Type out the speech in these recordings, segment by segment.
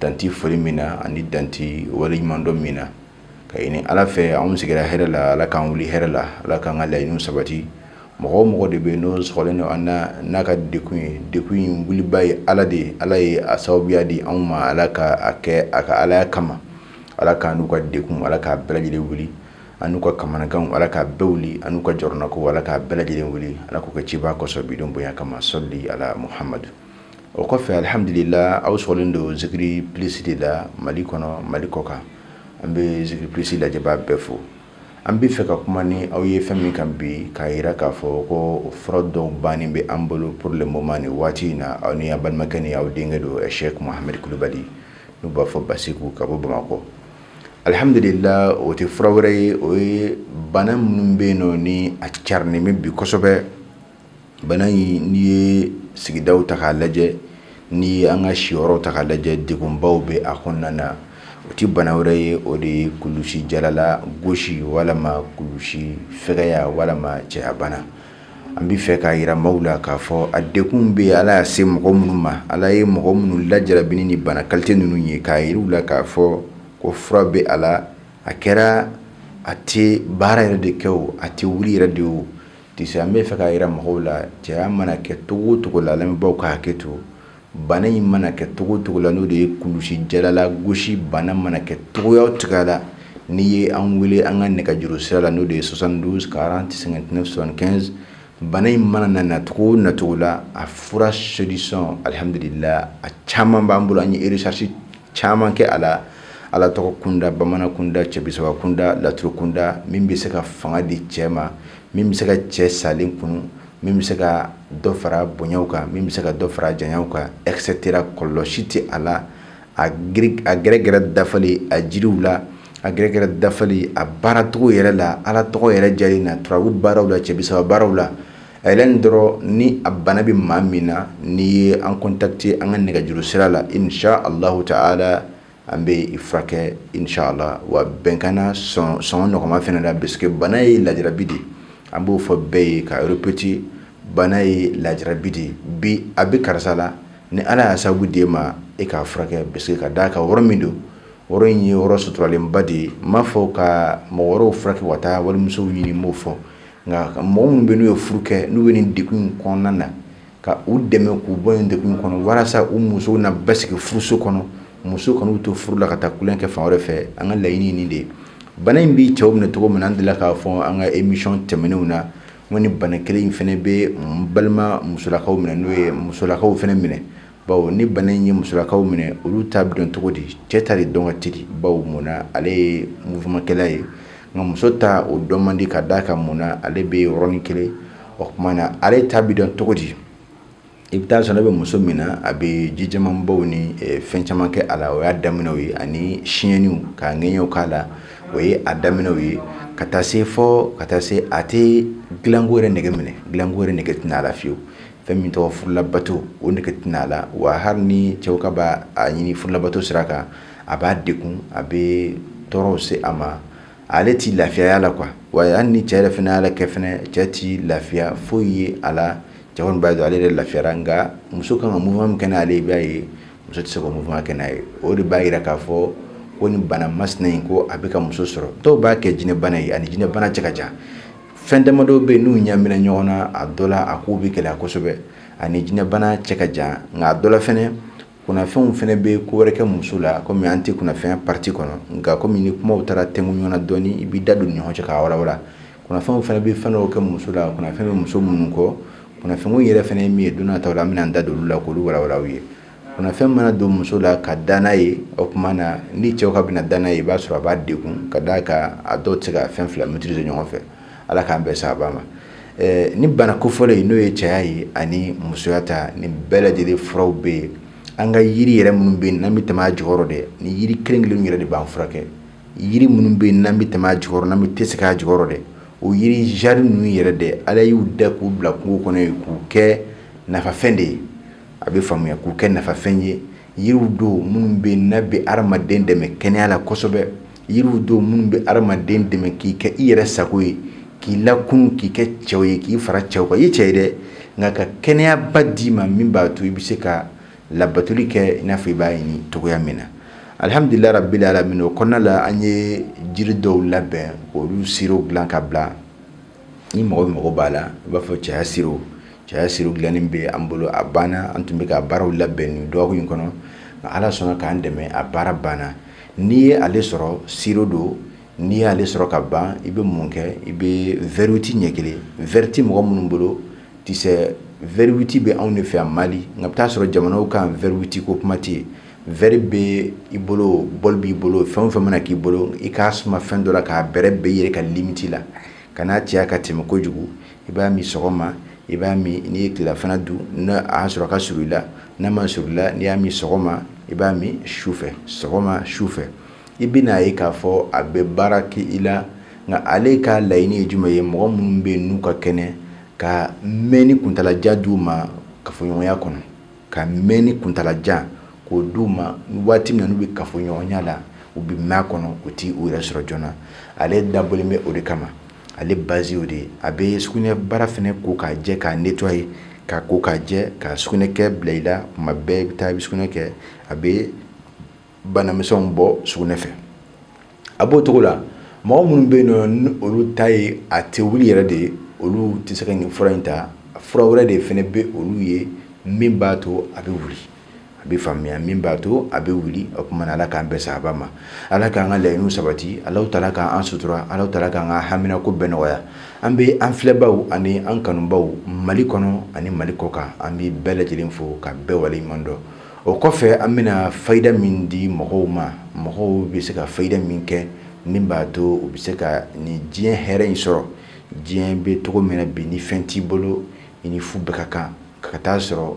dan tɛ foli min na ani dan tɛ waleɲumandɔn min na ka ɲini ala fɛ anw sigira hɛrɛ la ala k'an wuli hɛrɛ la ala k'an ka laɲini sabati mɔgɔ mɔgɔ de bɛ yen n'o selen don an na n'a ka degun ye degun wuliba ye ala de ye ala ye a sababuya di anw ma ala ka a kɛ a ka alaya kama ala k'an n'u ka degun ala k'a bɛɛ lajɛlen wuli an n'u ka kamanagan ala k'a bɛɛ wuli an n'u ka jɔrɔnanko ala k'a bɛɛ lajɛlen wuli ala k'o kɛ a ciba kɔsɔn bi don bonya kama sali ala muhamadu o kɔfɛ alihamdulila aw sɔrɔlen don zikiri plisi de la mali kɔnɔ mali kɔkan an bɛ zikiri plisi lajɛbaa bɛɛ fo an bɛ fɛ ka kuma ni aw ye fɛn min kan bi k'a jira k'a fɔ ko fura dɔw bannen bɛ an bolo pour le moment ni waati in na aw ni aw balimakɛ ni aw denkɛ don sɛki muhamadu kulubali n'u b'a fɔ basɛku ka bɔ bamakɔ alihamdulila o tɛ fura wɛrɛ ye o ye bana minnu bɛ yen nɔ ni a carinen bɛ bi kosɛbɛ bana in n'i ye sigidaw ta k'a lajɛ n'i ye an ka siyɔrɔ ta k'a lajɛ degunbaw bɛ a kɔnɔna na o tɛ bana wɛrɛ ye o de ye kulusijala lagosi walima kulusi fɛgɛya walima cɛbana an bɛ fɛ k'a jira maaw la k'a fɔ a degun bɛ ala y'a se mɔgɔ minnu ma ala ye mɔgɔ minnu lajarabi ni bana kalite ninnu ye k'a jira u la k'a fɔ ko fura bɛ a la a kɛra a tɛ baara yɛrɛ de kɛ o a tɛ wuli yɛrɛ de o Ti an bɛ fɛ k'a yira mɔgɔw la cɛya mana kɛ cogo cogo la lamɛnbaw ka hakɛ to bana in mana kɛ cogo cogo la n'o de ye kulusijala lagosi bana mana kɛ cogoya o cogo la n'i ye an weele an ka nɛgɛjuru sira la n'o de ye soixante-douze quarante cinquante-neuf soixante-quinze bana in mana na nacogo nacogo la a fura solution alihamdulila a caman b'an bolo an ye recherche caman kɛ a la ala tɔgɔ kunda bamanan kunda cɛbisaba kunda laturu kunda min bɛ se ka fanga di cɛ ma min bɛ se ka cɛ salen kunun min bɛ se ka dɔ fara bonyaw kan min bɛ se ka dɔ fara janyaw kan et cetera kɔlɔ si tɛ a la a a gɛrɛgɛrɛ dafalen a jiriw la a gɛrɛgɛrɛ dafalen a baaracogo yɛrɛ la ala tɔgɔ yɛrɛ lajɛlen na turabu baaraw la cɛbisaba baaraw la A yɛrɛ nin dɔrɔn ni a bana bɛ maa min na n'i ye an contacter an ka nɛgɛjuru sira la inisala taala an bɛ i furakɛ inisala wa bɛnkan na sɔngɔ nɔgɔman fana la parce que bana ye lajarabi de an b'o fɔ bɛɛ ye k'a répéter bana ye lajarabi de bi a bɛ karisa la ni ala y'a sababu d'an ma e k'a furakɛ parce que ka d'a kan yɔrɔ min don yɔrɔ in ye yɔrɔ suturalenba de ye n m'a fɔ ka mɔgɔ wɛrɛw furakɛ ka taa walimuso ɲini n m'o fɔ nka mɔgɔ minnu bɛ n'u ye furu kɛ n'u bɛ nin degun kɔnɔna na ka u dɛmɛ k'u bɔ nin degun kɔnɔ walasa u musow na basigi furuso kɔnɔ musow kan'u to furu la ka taa ku kɛ fan wɛrɛ fɛ an ka laɲini nin de ye bana in bɛ cɛw minɛ cogo min an deli k'a fɔ an ka émission tɛmɛnenw na ni bana kelen in fana bɛ balima musolakaw minɛ n'o ye musolakaw fana minɛ bawo ni bana in ye musolakaw minɛ olu ta bɛ dɔn cogo di cɛ ta de dɔn ka teli bawo mun na ale ye mouvement kɛla ye nka muso ta o dɔn man di ka d'a kan mun na ale bɛ yɔrɔnin kelen o tuma na ale ta bɛ dɔn cogo di i bɛ taa sɔrɔ n'a bɛ muso min na a bɛ ji caman bɔ ani eh, fɛn caman kɛ a la o y'a daminɛw ye ani siɲɛniw k'a ŋɛɲɛw k'a la o ye a daminɛw ye ka taa se fɔ ka taa se a tɛ dilanko yɛrɛ nege minɛ dilanko yɛrɛ nege tɛna a la fiyewu fɛn min tɔgɔ furulabato o nege tɛna a la wa hali ni cɛw ka b'a ɲini furulabato sira kan a b'a degun a bɛ tɔɔrɔw se a ma ale tɛ lafiya y'a la quoi wa hali ni cɛ yɛrɛ fana y'a kɛ fana cɛ tɛ lafiya foyi ye a la cɛ kɔni b'a dɔn ale yɛrɛ lafiyara nka muso kan ka mouvement min kɛ n'ale ye i b'a ye muso tɛ se k'o mouvement kɛ n'a ye o de b'a jira k'a fɔ ko nin bana masina in ko a bɛ ka muso sɔrɔ dɔw b'a kɛ jinɛbana ye a ni jinɛbana cɛ ka jan fɛn damadɔ bɛ yen n'u ɲamina ɲɔgɔn na a dɔ la a kow bɛ gɛlɛya kosɛbɛ a ni jinɛbana cɛ ka jan nka a dɔ la fɛnɛ kunafɛnw fana bɛ ko wɛrɛ kɛ muso la kɔmi an tɛ kunafɛn pariti kɔnɔ nka kɔmi ni kumaw taara tɛmɛ ɲɔgɔn na dɔɔni i b'i da don ni ɲɔgɔn cɛ k'a walawala kunafɛnw fana bɛ fɛn dɔw kɛ muso la kunafɛn bɛ muso minnu kɔ kunafɛnko yɛrɛ fana ye min ye don nataw la an bɛna an da don olu la k'olu walawala aw ye Kunafɛn mana don muso la ka da n'a ye o tuma na ni cɛw ka bɛna da n'a ye i b'a sɔrɔ a b'a degun ka d'a kan a dɔw tɛ se ka fɛn fila maîtriser ɲɔgɔn fɛ ala k'an bɛɛ saba ma nin bana kofɔlen in n'o ye cɛya ye ani musoya ta nin bɛɛ lajɛlen furaw bɛ yen an ka yiri yɛrɛ minnu bɛ yen n'an bɛ tɛmɛ a jukɔrɔ dɛ nin yiri kelen kelen yɛrɛ de b'an furakɛ yiri minnu bɛ yen n'an bɛ tɛmɛ a jukɔrɔ n'an bɛ taa sigi a jukɔrɔ dɛ o yiri jiri ninnu yɛrɛ dɛ ala y'u da k'u bila kungo kɔnɔ yen k'u kɛ nafafɛn de ye a bɛ faamuya k'u kɛ nafafɛn ye yiriw don minnu bɛ yen n'a bɛ hadamaden dɛmɛ kɛnɛya la kosɛbɛ yiriw don minnu bɛ hadamaden dɛmɛ k'i kɛ i yɛrɛ sago ye k'i lakunun k'i kɛ cɛw ye k'i fara cɛw kan i ye cɛ ye dɛ nka ka kɛnɛyaba d'i ma min b'a to i bɛ se ka labatuli kɛ i n'a fɔ i b'a ɲini cogoya min na alhamdulilayi rabbil alamin o kɔnɔna la an ye jiri dɔw labɛn k'olu sirow dilan ka bila ni mɔgɔ bɛ mago b'a la i b'a fɔ cɛya siro cɛya siro dilannen bɛ an bolo a banna an tun bɛ ka baaraw labɛn nin dɔgɔkun in kɔnɔ nka ala sɔnna k'an dɛmɛ a baara banna n'i ye ale sɔrɔ siro don n'i y'ale sɔrɔ ka ban i bɛ mun kɛ i bɛ vɛriwiti ɲɛ kelen vɛriwiti mɔgɔ minnu bolo tɛ se vɛriwiti bɛ anw de fɛ yan mali nka i bɛ taa a sɔrɔ jamanaw kan vɛriwiti ko kuma tɛ yen Vɛri bɛ i bolo bɔli b'i bolo fɛn o fɛn mana k'i bolo i k'a suma fɛn dɔ la k'a bɛrɛbɛn i yɛrɛ ka limiti la kana caya ka tɛmɛ kojugu i b'a min sɔgɔma i b'a min n'i ye tilafana dun n'a y'a sɔrɔ ka surun i la n'a ma surun i la n'i y'a min sɔgɔma i b'a min su fɛ sɔgɔma su fɛ i bɛna a ye k'a fɔ a bɛ baara kɛ i la nka ale ka layiɲini ye jumɛn ye mɔgɔ minnu bɛ yen n'u ka kɛnɛ ka mɛn ni kuntaalajan d'u ma kafoɲɔgɔnya kɔnɔ ka mɛnni kuntaalajan k'o di u ma waati min na n'u bɛ kafoɲɔgɔnya la u bɛ mɛn a kɔnɔ u tɛ u yɛrɛ sɔrɔ joona ale dabɔlen bɛ o de kama ale base y'o de ye a bɛ sugunɛbara fɛnɛ ko k'a jɛ k'a nettoyer k'a ko k'a jɛ ka sugunɛkɛ bila i la tuma bɛɛ i bɛ taa i bɛ sugunɛ kɛ a bɛ banamisɛnw bɔ sugunɛ fɛ a b'o cogo la mɔgɔ minnu bɛ yen nɔ ni olu ta ye a tɛ wuli yɛrɛ de ye olu tɛ se ka nin fura in ta fura wɛrɛ de fɛnɛ bɛ olu ye min b'a to a bɛ wuli a bɛ faamuya min b'a to a bɛ wuli o tuma ala k'an bɛɛ saba ma ala k'an ka laɲiniw sabati alahu taala k'an sutura alahu taala k'an ka haminako bɛɛ nɔgɔya an bɛ an filɛbaw ani an kanubaw mali kɔnɔ ani mali kɔkan an bɛ bɛɛ lajɛlen fo ka bɛɛ waleɲuman dɔn o kɔfɛ an bɛna fayida min di mɔgɔw ma mɔgɔw bɛ se ka fayida min kɛ min b'a to u bɛ se ka nin diɲɛ hɛrɛ in sɔrɔ diɲɛ bɛ cogo min na bi ni fɛn t'i bolo i ni fu bɛɛ ka kan ka ka taa sɔrɔ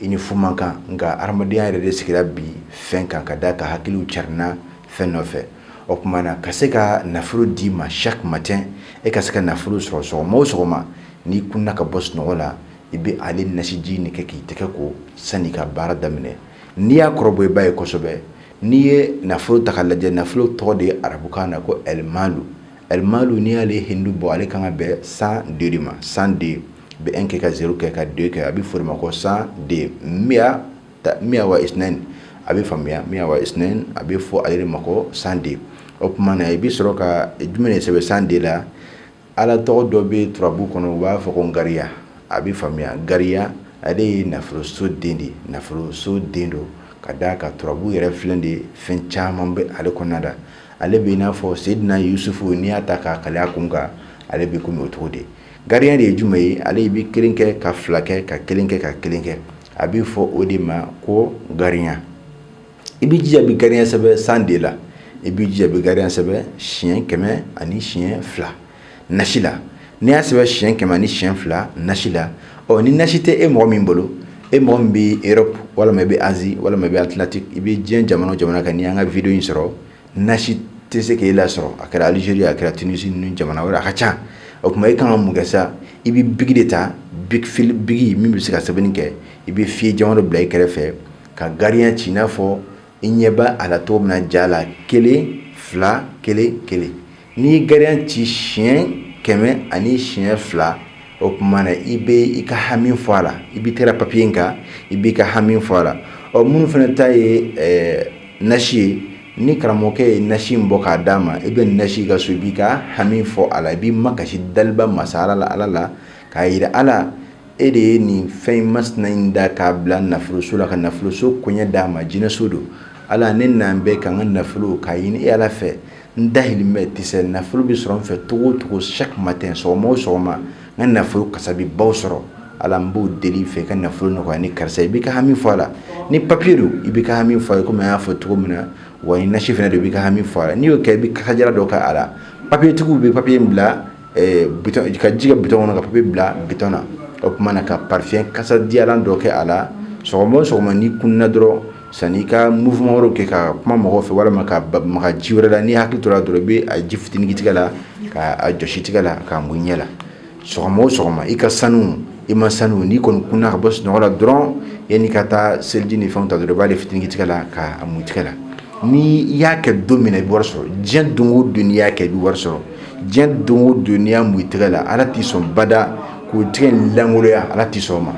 i ni fu man kan nka hadamadenya yɛrɛ de sigira bi fɛn kan ka d'a kan hakiliw carinna fɛn nɔfɛ o tuma na ka se ka nafolo d'i ma chaque matin e ka se ka nafolo sɔrɔ sɔgɔma o sɔgɔma n'i kununna ka bɔ sunɔgɔ la i bɛ ale nasiji nin kɛ k'i tɛgɛ ko sani ka baara daminɛ n'i y'a kɔrɔbɔ i b'a ye kosɛbɛ n'i ye nafolo ta k'a lajɛ nafolo tɔgɔ de ye arabukan na ko alimalu alimalu n'i y'ale hindu bɔ ale kan ka bɛn cent deux ma cent deux bɛ un kɛ ka zéro kɛ ka deux kɛ a bɛ fɔ o de ma ko cent deux miya wa isnain a bɛ faamuya miya wa isnain a bɛ fɔ ale de ma ko cent deux o tuma na i bɛ sɔrɔ ka jumɛn de sɛbɛn cent deux la Ala tɔgɔ dɔ bɛ turabu kɔnɔ u b'a fɔ ko gariya a bɛ faamuya gariya ale ye nafoloso den de ye nafoloso den don ka d'a kan turabu yɛrɛ filɛ de fɛn caman bɛ ale kɔnɔna la ale bɛ i n'a fɔ Seyidina Yusufu n'i y'a ta k'a kale a kun kan ale bɛ komi o cogo de gariya de ye jumɛn ye ale bɛ kelen kɛ ka fila kɛ ka kelen kɛ ka kelen kɛ a bɛ fɔ o de ma ko gariya I b'i jija i bɛ gariya sɛbɛn cent deux la i b'i jija i bɛ gariya sɛbɛn siyɛn kɛmɛ ani siyɛn fila nasi la n'i y'a sɛbɛn siyɛn kɛmɛ ni siyɛn fila nasi la ɔ ni nasi tɛ e mɔgɔ min bolo e mɔgɔ min bɛ Europe walima i bɛ Asie walima i bɛ Atlantique i bɛ diɲɛ jamana o jamana kan n'i y'an ka vidéo in sɔrɔ nasi tɛ se k'e lasɔrɔ a kɛra Algérie a kɛra Tunisie ni jamana wɛrɛ a ka ca o tuma e ka kan mun kɛ sa i bɛ biki de ta biki min bɛ se ka sɛbɛnni kɛ i bɛ feuille jɛman bila i kɛrɛfɛ ka gariya ci i n'a fɔ i ɲɛ b'a la cogo min na ja la kelen fila kelen kelen n'i ye gariya ci siyɛn kɛmɛ ani siyɛn fila o tuma na i bɛ i ka hami fɔ a la i bɛ kɛra papiye in kan i b'i ka hami fɔ a la ɔ minnu fana ta ye nasi ye ni karamɔgɔkɛ ye nasi in bɔ k'a d'a ma i bɛ nasi ka so i b'i ka hami fɔ a la i b'i makasi daliba masa ala la k'a jira ala e de ye nin fɛn in masina in da k'a bila nafoloso la ka nafoloso koɲɛ d'a ma jinɛso don ala ne n'an bɛ k'an ka nafolo k'a ɲini e ala fɛ n dahirimɛ bɛ tɛsɛ nafolo bɛ sɔrɔ n fɛ cogo o cogo chaque matin sɔgɔma o sɔgɔma n ka nafolo kasabi baw sɔrɔ ala n b'o deli i fɛ ka nafolo nɔgɔya ni karisa i b'i ka hami fɔ a la ni papiye don i b'i ka hami fɔ a ye kɔmi an y'a fɔ cogo min na wa ni nasi fana don i b'i ka hami fɔ a la n'i y'o kɛ i bɛ kasadiyalan dɔ kɛ a la papiyetigiw bɛ papiye in bila ka ji kɛ bidɔn kɔnɔ ka papiye bila bidɔn na o tuma na ka parifɛn kasadiyalan dɔ kɛ a la sɔgɔma o sɔgɔma n'i kunna dɔrɔn san'i ka mouvement wɛrɛw kɛ ka kuma mɔgɔw fɛ walima ka maga ji wɛrɛ la n'i hakili tora dɔrɔn i bɛ a ji fitini tigɛ la k'a jɔsi i tigɛ la k'a mun i ɲɛ la sɔgɔma o sɔgɔma i ka sanu i man sanu n'i kɔni kunna ka bɔ sunɔgɔ la dɔrɔn yan'i ka taa seliji ni fɛn ta dɔrɔn i b'a de fitini tigɛ la k'a mun i tigɛ la ni i y'a kɛ don min i bɛ wari sɔrɔ diɲɛ don o don n'i y'a kɛ i bɛ wari sɔrɔ diɲɛ don o don n'i y'a mun i tɛgɛ la ala t'i sɔn bada k'o tɛgɛ in lankoloya ala t'i sɔn o ma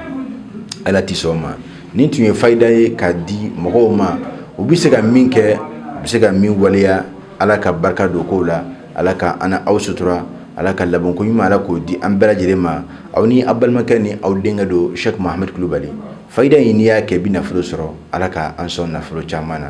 ala t'i sɔn o ma nin tun ye fayida ye k'a di mɔgɔw ma u bɛ se ka min kɛ u bɛ se ka min waleya ala ka barika don kow la ala ka an n'aw sutura ala ka labanko ɲuman ala k'o di an bɛɛ lajɛlen ma aw ni aw balimakɛ ni aw denkɛ don sɛk mahamadu kulubali fayida in n'i y'a kɛ i bɛ nafolo sɔrɔ ala ka an sɔn nafolo caman na